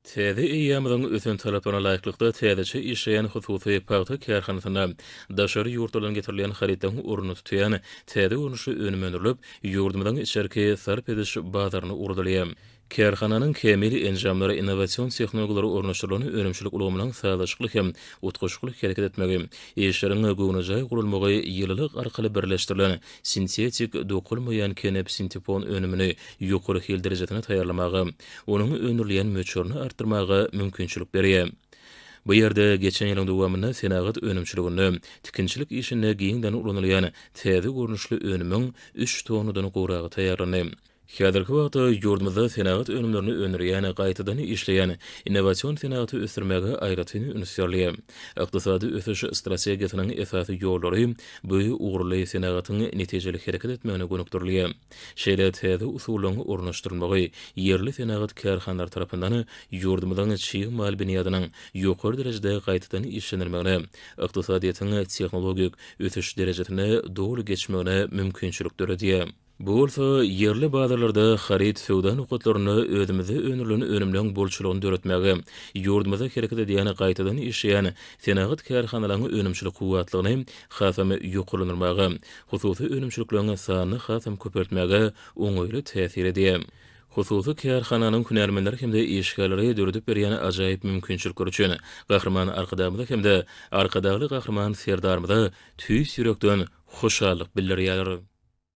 Täze eýýamyň ösen talaplaryna laýyklykda täzeçe işleýän hususy pagta kärhanasynda daşary ýurtlardan getirilýän harytlaryň ornuny tutýan täze görnüşli önüm öndürilip, ýurdumyzyň içerki sarp ediş bazaryna ugradylýar. Kärhananyň kämil enjamlary, innowasion tehnologiýalary ornaşdyrylan önümçilik ulgamynyň sazlaşykly hem utgaşykly hereket etmegi, işleriň göwnejaý guralmagy, ýylylyk arkaly birleşdirilen Sintetik, dokulmaýan kenep-sintepon önümini ýokary hil derejesine taýýarlamaga, onuň öndürilýän möçberini artdyrmaga mümkinçilik berýär. Bu ýerde geçen ýylyň dowamynda senagat önümçiliginde, tikinçilik işinde giňden ulanylýan täze görnüşli önümiň üç tonnadan gowragy taýýarlandy. Häzirki wagtda ýurdumyzda senagat önümlerini öndürýän, gaýtadan işleýän, innowasion senagaty ösdürmäge aýratyn üns berilýär. Ykdysady ösüş strategiýasynyň esasy ýollary bu ugurly senagatyň netijeli hereket etmegine gönükdirilýär. Şeýle täze usullaryň ornaşdyrylmagy ýerli senagat kärhanalary tarapyndan ýurdumyzyň çig mal binýadynyň ýokary derejede gaýtadan işlenilmegine, ykdysadyýetiň tehnologik ösüş derejesine doly geçmegine mümkinçilik döredýär. Bu bolsa ýerli bazarlarda haryt söwda nokatlarynda özümizde öndürilen önümleň bolçulygyny döretmäge, ýurdumyzda hereket edýän gaýtadan işleýän senagat kärhanalaryň önümçilik kuwwatlygyny hasam ýokarlandyrmaga, hususy önümçilikleriň sanyny hasam köpeltmäge oňaýly täsir edýär. Hususy kärhananyň hünärmenleri hem-de işgärleri döredip berýän ajaýyp mümkinçilikler üçin Gahryman Arkadagymyza hem-de Arkadagly Gahryman Serdarymyza tüýs ýürekden hoşallyk bildirýärler.